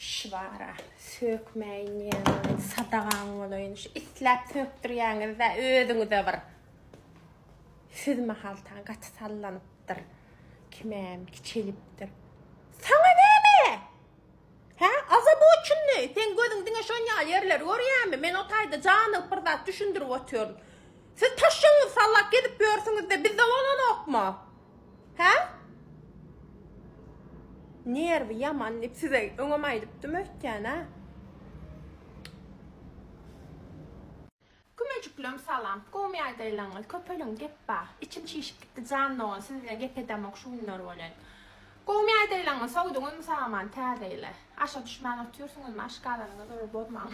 Şu bara sökmäýin diýýän sadagaň bolaýyn. Şu isläp sökdirýäňiz-dä özüňize bir. Siz mahaltaň gaty sallanypdyr. Kimem kiçelipdir. Saňa näme? Hä? Azaboçunny, sen gözüň diňe şon ýaly ýerleri görýämi? Men o taýda janygyp bir zat düşündirip otyryn. Siz taşşaňyzy sallap gezip ýörsüňiz-de, bizde bolanokmy? Hä? Nerwi ýaman diýip size öňem aýdypdym öýtýän-ä. Kümejiklem salam. Gomy aýdaýlaňyz, köpeliň gep bar. Içim çişip gitdi jan dogan siz bilen gep edemok şu günler welin. Gomy aýdaýlaňyz sowduňyzmy sagaman täze ýyly. Aşa düşmän otyrsyňyzmy aşgazanyňyzy bir bozmaň.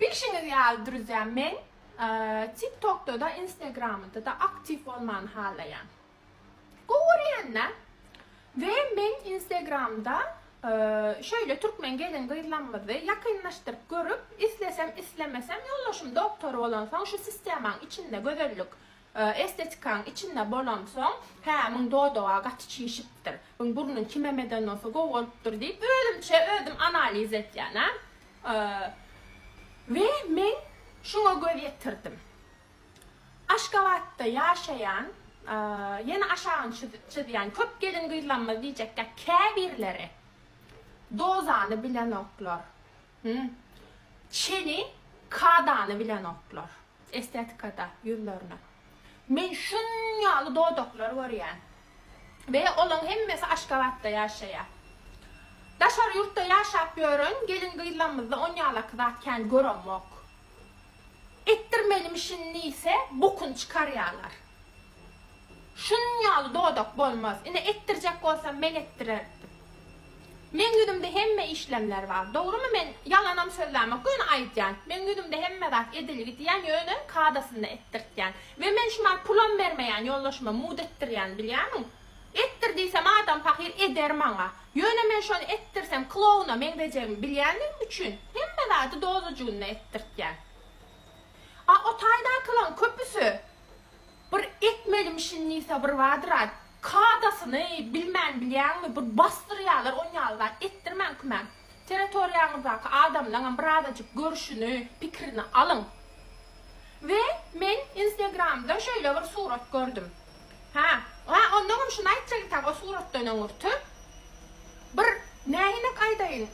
Bilşiňiz ýaly druzýa men tik tokdada instagramdada aktiw bolmany halaýan. Gowy görýända we men instagramda şöýle türkmen gelin gyzlamyzy ýakynlaşdyryp görüp islesem islemesem ýoldaşym doktor bolansoň şu sistemaň içinde gözellik Estetikaň içinde bolamsoň, hä, muň dodaga gaty çişipdir, muň burnuň kimemeden bolsa gowy bolupdyr diýip, özümçe özüm analiz etýän, a. We men şuňa göz ýetirdim. Aşgabatda ýaşaýan, ýene aşagyny çyzýan köp gelin-gyzlarymyz diýjek däl, käbirleri dodany bilenoklar. Hum. Çeni kadany bilenoklar. Estetikada ýüzlerine. Men şun ýaly dodaklar görýän. We olaň hemmesi Aşgabatda ýaşaýa. Daşary ýurtda ýaşap ýören gelin gyzlamyzda on ýalaky zat kän göremok. Etdirmelimişin diýse bokun çykarýalar. Şunuň ýaly dodak bolmaz. Ine, etdirjek bolsam men etdirerdim. Meň ýüzümde hemme işlemler bar. Dogrumy, men ýalanam sözlämok, göni aýdýan. Meň ýüzümde hemme zat edilgidýän, ýöne kadasynda etdirtýän. We men şuman pulam bermeýän ýoldaşyma mut etdirýän, bilýämiň? Etdir diýsem adam pahyr eder maňa. Ýöne men şony etdirsem klowna meňzejegimi bilýänligim üçin, hemme zady dozajygynda etdirtýän. A o taýdakylaň köpüsi Bir etmelim şindi sabr badyra kadasyny bilmän bilýäňmi bir basdyrýalar onýaly zat etdirmäň kümän teretoriýaňyzdaky adamlaňam birazajyk görşüni pikirini alyň we men instegramda şeýle bir surat gördüm ha ha ondaňam şuny aýtjak ekan o suratdan öňürti bir nähinek aýdaýyn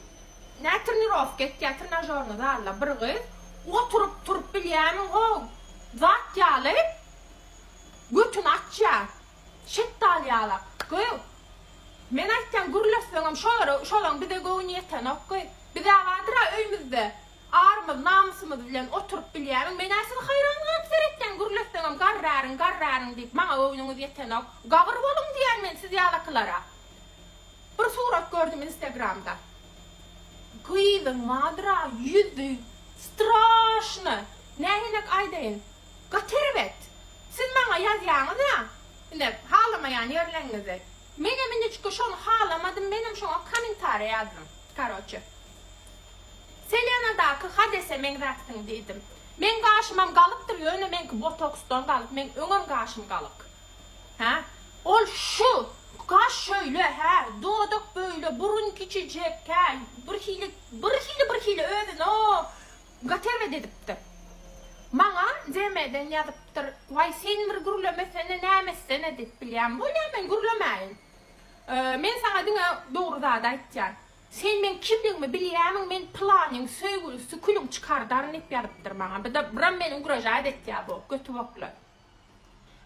Nä trenirowka etýä trenažorny zalda bir gyz. Oturyp turup bilýämi how zat ýaly götüni açýa şetdaly ýalak gyz men aýtýan gürleşseňem şo ýere şolaň bize göwni ýetenok gyz bizä badyra öýmüzde arymyz namysymyz bilen oturyp bilýämiň menä sizi haýran galyp seretýän gürleşseňem garraryň garraryň diýip maňa göwnüňiz ýetenok gabyr boluň diýýän men siz ýalakylara. Bir surat gördüm instagramda. Gyzyň madyra ýüzi straşny. Nähenek aýdaýyn. Gaty erbet. Siz maňa ýazýaňyz ýa. Ine halamaýan ýerleňňizi. Meňem inniçka şony halamadym menem şoňa komentariýa ýazdym. Karoçe. Selenadaky hadese meňzäpsiň diýdim. Meň gaşymam galypdyr ýöne meňki botoksdan galyp meň öňem gaşym galyk. Hä? Ol şu, kaş şöýle, hä, dodak böýle, burun kiçijek, hä, birhili, birhili, birhili özüni o, gotowyet edipdir. Maňa DMden ýazypdyr, Waý, sen bir gürlemesene, näme etsene diýip bilýän. Bolýa, men gürlemäýin. Men saňa diňe dogry zady aýtýan. Sen meň kimligimi bilýämiň, men pylanyň söýgülisi külüň çykardaryn diýip ýazypdyr maňa. Bu da, buram meni ugražaýt etýä bu, götübokly.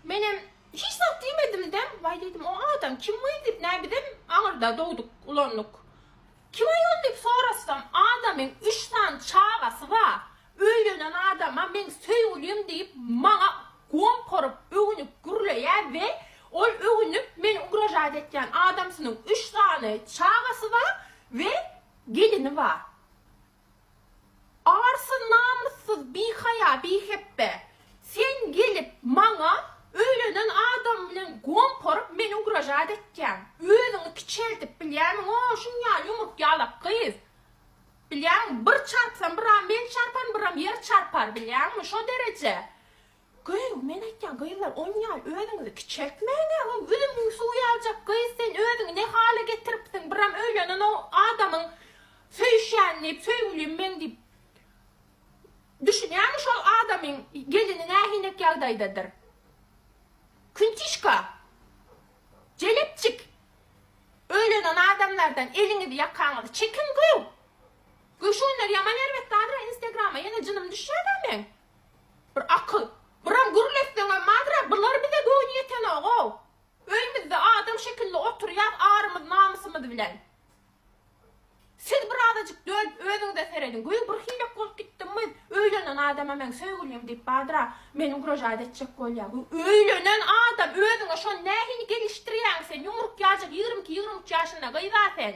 Menem hiç zat diýmedimde, waý diýdim, o adam kim gyz diýip, nä bizem aňyrda dogduk, ulandyk. Kim aýol diýip sorasam, adamyň üç sany çagasy bar, öýlenen adama meň söýgülim diýip, maňa gom porup, öwünip gürleýär we ol öwünip, meni ugražat etýän adamsynyň üç sany çagasy bar we gelini bar. Arsy namyssyz bihaýa bihepbe sen gelip maňa öýlenen adamym bilen gomparyp meni ugražat etýäň özüňi kiçeltip bilýämiňo şunýaly ýumruk ýalak gyz bilýämiň bir çarpsam bir a men çarparyn bir am ýer çarpar bilýäňmi şo dereje Gyz, men aýtýan gyzlar on ýaly özüňizi kiçeltmäňä ol üzümiň suwy aljak gyz sen özüňi ne hala getiripsiň biram öýlenen o adamyň söýüşýän diýip söýgülim meň diýip düşünýäňmi şol adamyň gelini nähinek ýagdaýdadyr küntişka jelepjik öýlenen adamlardan eliňizi ýakaňyzy çekiň gyz göwşenler ýaman erbet gazra instagrama ýene jynym düşýäda meň. Bir akyl. Buram gürle etseň hem mazra bular bize göwni ýetenogoo. Öýmizde adam şekilli oturýas arymyz namysymyz bilen. Siz bir azajyk dönüp özüňize serediň. Göýä bir hilek bolup gitdim we öýlenen adama meň söýgülim diýip badra meni ugražat etjek bolýa. Göýä öýlenen adam özüňe şony nähili gelişdirýäň sen ýumruk ýajak ýigrimi iki ýigrimi üç ýaşynda gyza sen.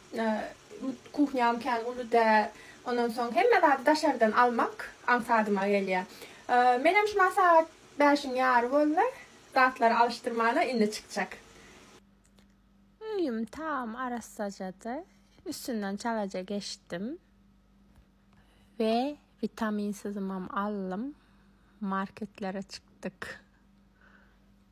Kuhnýam kän uly däl. Ondan soň hemme zady daşardan almak aňsadyma gelýär. Menem şumaň sagat bäşiň ýary boldy. Zatlary alyşdyrmana indi çykjak. Öýüm tam arassajady. Üstünden çalaja geçdim we witaminsizimem aldym. Marketlere çykdyk.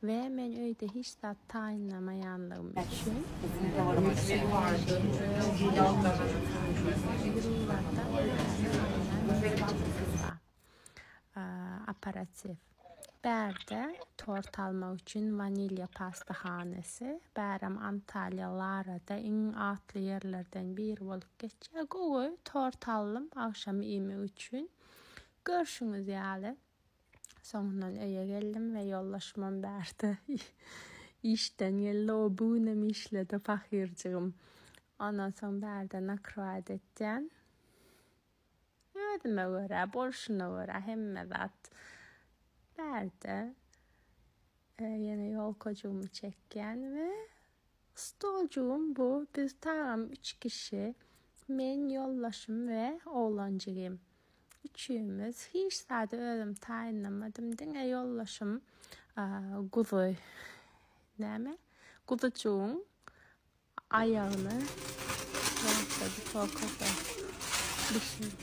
We men öýde hiç zat taýynlamaýanlygym üçin, Russiýa häzirlikçe Türkmenistana taýynlanmaz. Hezir ol ýurtda özüne taýynlan ýöreljeleri bar. Operatiw. Bärde tort almak üçin Wanilýa pastahanasy, bärem Antalýa Larada iň atly ýerlerden biri bolup geçýär. Gowy tort aldym agşam iýmek üçin. Görşüňiz ýaly, Soňundan öýe geldim we ýoldaşymam bärde işden geldi. O bu günem işledi pahyrjygym. Ondan soň bärde nakrywat etýän. Özüme görä, bolşuna görä hemme zat bärde. Ýene ýolkajygymy çekýän we Stoljugym bu, biz tagam üç kişi, men, ýoldaşym we oglanjygym. Üçümiz. Hiç zady özüm taýynlamadym, diňe ýoldaşym guzy, näme, guzujygyň aýagyny ýasadyk, o köpe bişirdi.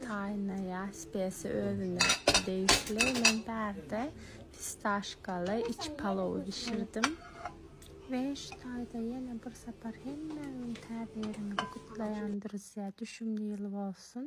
Taýynlaýar, spesiýa özüne degişli. Men bärde fistaşkaly iç palowy bişirdim. We şu taýda ýene bir sapar hemmäňiň Täze ýylyňyzy gutlaýan, druzýa. Düşümli ýyl bolsun!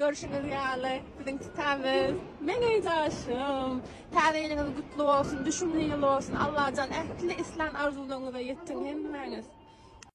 Görşüňiz ýaly, biziň titämiz. Meniň daşym! Täze ýylyňyz gutly bolsun, düşümli ýyl bolsun! Allajan ähli islan arzuwlaryňyza ýetsin hemmäňiz!